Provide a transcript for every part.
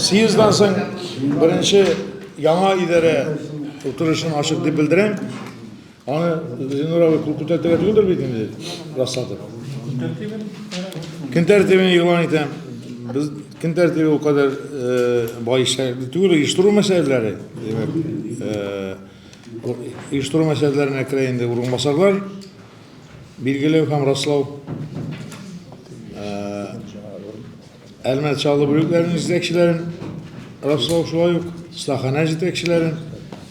Съездан соң беренче яңа идарә утырышын ачык дип белдерәм. Аны Зинурабый кул күтәртергә түгелдер бит инде расладып. Көн тәртибен игълан итәм. Без көн тәртибе ул кадәр э, бай эшләре түгел, оештыру мәсьәләләре, димәк, э, оештыру мәсьәләләренә керә инде урынбасарлар билгеләү һәм раслау. Э, Әлмәт чаллы бүлекләренең җитәкчеләрен раслау шулай ук, стахана җитәкчеләрен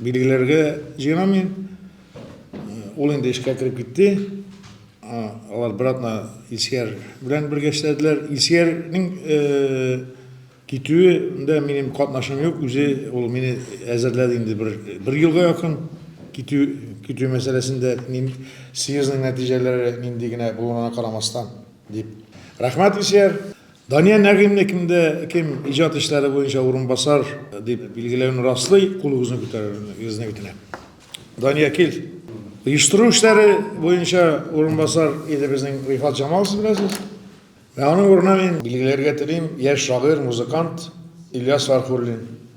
Билгеләргә җыенамы? Ул инде эшкә кереп китте. Алар братна Илсияр белән бергә эшләделәр. Илсиярнең китүендә минем катнашым юк, үзе ул мине әзерләде инде бер, бер елга якын китү, китү мәсьәләсендә мин съездның нәтиҗәләре нинди генә булуына карамастан дип. Рәхмәт, Исияр. Дания Нәгыймне кемдә кем иҗат эшләре буенча урынбасар дип билгеләвен раслый, кулыгызны күтәрергезне үтенәм. Дания кил. Оештыру эшләре буенча урынбасар иде безнең Рифат Җамал, сез беләсез. Ә аның урынына мин билгеләргә телим яшь шагыйрь, музыкант Ильяс Фархуллин.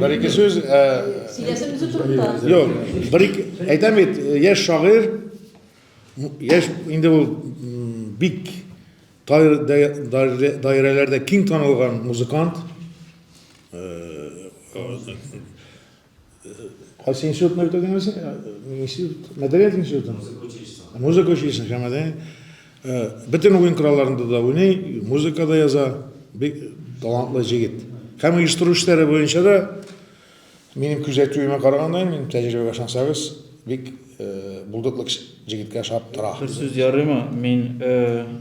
Бер-ике сүз. Сөйләсен үзе турында. Юк, бер-ике. Әйтәм бит, яшь шагыйрь, яшь инде ул бик даирәләрдә киң танылган музыкант. Кайсы институтны бетердеңме син? Институт, мәдәният институтын? Музыка училищесын. Музыка училищесын, һәм мәдәният. Бөтен уен коралларында да уйный, музыка да яза. Бик талантлы җегет. Һәм оештыру эшләре буенча да минем күзәтүемә караганда, мин тәҗрибәгә ышансагыз, бик булдыклы җегеткә ошап тора. Бер сүз ярыймы? Мин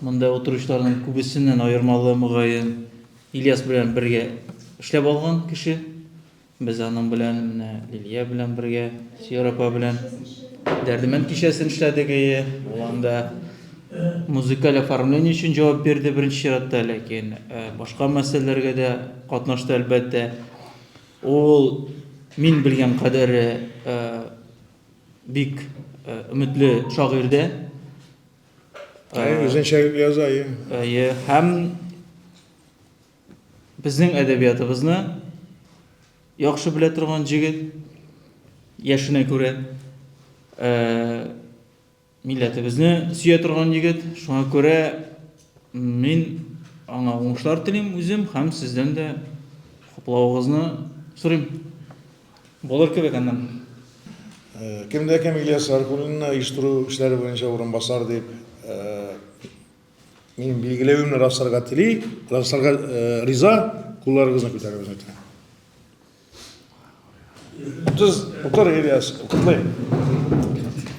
Монда утыручыларның күбесеннән аермалы, мөгаен, Ильяс белән бергә эшләп алган кеше. Без аның белән менә Лилия белән бергә, Сиор апа белән Дәрдемәнд кичәсен эшләдек, әйе. Ул анда музыкаль оформление өчен җавап бирде беренче чиратта, ләкин э, башка мәсьәләләргә дә катнашты, әлбәттә. Ул мин белгән кадәре э, бик э, өметле шагыйрь дә. Үзенчәлекле яза, әйе. Әйе, һәм безнең әдәбиятыбызны яхшы белә торган җегет, яшенә күрә, милләтебезне сөя торган егет, шуңа күрә мин аңа уңышлар телим үзем һәм сездән дә хуплавыгызны сорыйм. Булыр кебек аннан. Кем дә кем Ильяс Гаркулинны оештыру эшләре буенча урынбасар дип минем билгеләвемне расларга тели, расларга риза, кулларыгызны күтәрегез ләтен. Утыз, утыр Ильяс, утырдый.